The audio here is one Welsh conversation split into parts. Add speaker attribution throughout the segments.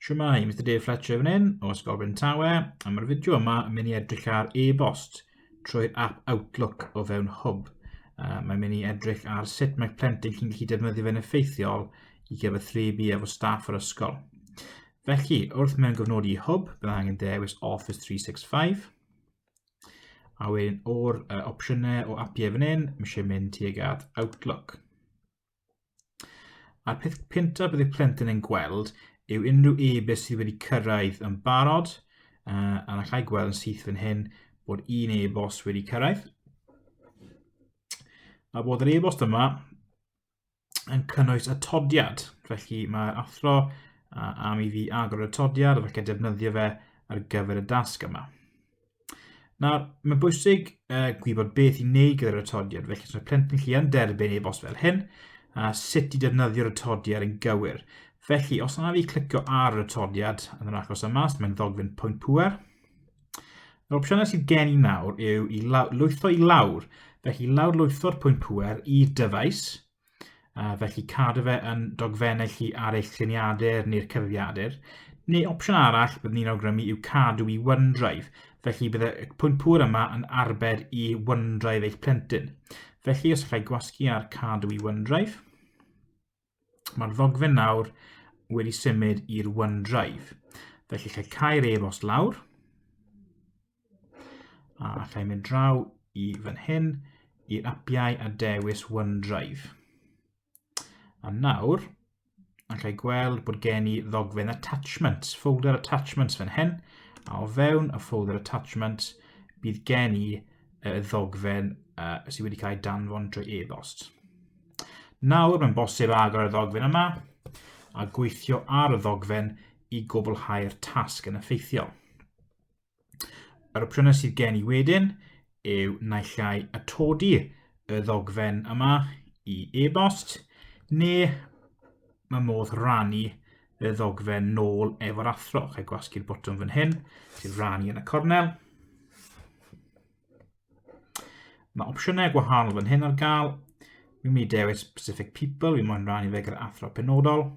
Speaker 1: Siwmai, Mr Dave Fletcher fan hyn o Ysgol Bryn Tawe, a mae'r fideo yma yn mynd i edrych ar e-bost trwy'r app Outlook o fewn Hwb. Uh, mae'n mynd i edrych ar sut mae plentyn chi'n gallu defnyddio fe'n effeithiol i gyfathrebu efo staff yr ysgol. Felly, wrth mewn gofnodi Hwb, bydd angen dewis Office 365, a wedyn o'r uh, opsiynau o apiau fan hyn, mae eisiau mynd tuag at Outlook. A'r peth cyntaf bydd y plentyn yn gweld yw unrhyw e-byst sydd wedi cyrraedd yn barod, uh, a na chai gweld yn syth fan hyn bod un e-bost wedi cyrraedd. A bod yr e-bost yma yn cynnwys atodiad, felly mae'r athro uh, am i fi agor y atodiad ac felly defnyddio fe ar gyfer y dasg yma. Nawr, mae'n bwysig uh, gwybod beth i wneud gyda'r atodiad, felly os mae plentyn chi yn derbyn ei bos fel hyn, a sut i defnyddio'r atodiad yn gywir. Felly, os yna fi clicio ar yr atodiad yn yr achos yma, os mae'n ddogfen pwynt pwer, yr opsiynau sydd gen i nawr yw i lwytho i lawr, felly lawr lwytho'r pwynt pwer i dyfais, Uh, felly cadw fe yn dogfennau chi ar eich triniadur neu'r cyfrifiadur. Neu opsiwn arall bydd ni'n awgrymu yw cadw i OneDrive, felly bydd y pwynt pŵr yma yn arbed i OneDrive eich plentyn. Felly os allai gwasgu ar cadw i OneDrive, mae'r ddogfen nawr wedi symud i'r OneDrive. Felly lle cael ei-bost lawr, A allai mynd draw i fan hyn i'r apiau a dewis OneDrive. A nawr, allai gweld bod gen i ddogfen attachments, folder attachments fan hyn, a o fewn y folder attachments bydd gen i y ddogfen uh, sydd wedi cael ei danfon drwy e-bost. Nawr mae'n bosib agor y ddogfen yma a gweithio ar y ddogfen i gwblhau'r tasg yn effeithiol. Yr opsiynau sydd gen i wedyn yw naill ai atodi y ddogfen yma i e-bost neu mae modd rannu y ddogfen nôl efo'r athro. Rhaid gwasgu'r botwm fan hyn, sy'n rannu yn y cornel. Mae opsiynau gwahanol fan hyn ar gael. Mi'n mynd i dewis specific people, fi moyn rannu fe gyda athro penodol.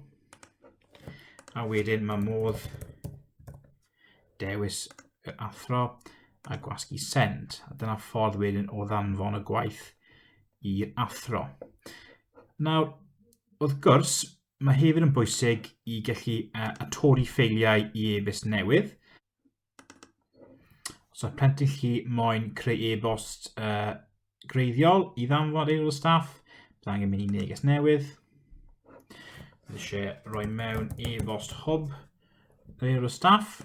Speaker 1: A wedyn mae modd Dewis yr athro a gwasgu send. A dyna ffordd wedyn o ddanfon y gwaith i'r athro. Nawr, wrth gwrs, mae hefyd yn bwysig i gallu uh, atori ffeiliau i e-byst newydd. Os so, mae plentyn chi moyn creu e-bost uh, greiddiol i ddanfod aelod o staff. Bydd angen mynd i neges newydd. Bydd eisiau rhoi mewn e-bost hwb yr aelod o staff.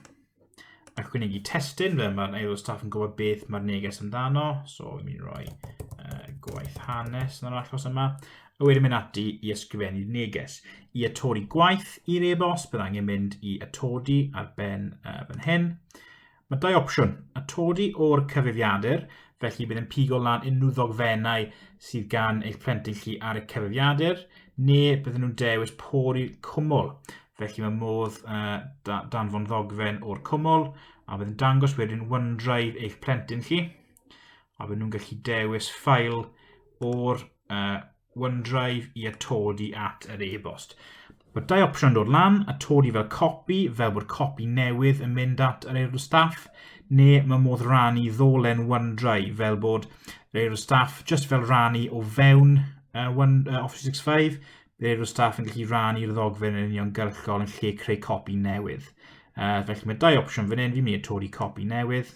Speaker 1: Ac yn ei testyn, fe mae'r aelod o staff yn gwybod beth mae'r neges amdano. So, fi'n mynd i roi uh, gwaith hanes yn yr achos yma. A wedyn mynd ati i ysgrifennu'r neges. I atodi gwaith i'r e-bost, bydd angen mynd i atodi ar ben uh, fan hyn. Mae dau opsiwn, atodi o'r cyfrifiadur, felly bydd yn pigo lan unrhyw ddogfennau sydd gan eich plentyn chi ar y cyfrifiadur, neu bydden nhw'n dewis pori cwmwl. Felly mae modd uh, danfon ddogfen o'r cwmwl, a bydd yn dangos wedyn OneDrive eich plentyn chi, a bydd nhw'n gallu dewis ffail o'r uh, OneDrive i atodi at yr e-bost. Mae dau opsiwn yn dod lan, atodi fel copi, fel bod copi newydd yn mynd at yr aelod staff, neu mae modd rannu ddolen OneDrive fel bod yr aelod staff just fel rannu o fewn uh, One, uh, Office 365, bydd aelod staff yn gallu rannu'r ddogfen yn uniongyrchol yn lle creu copi newydd. Uh, felly mae dau opsiwn fan hyn, fi'n mynd i atodi copi newydd.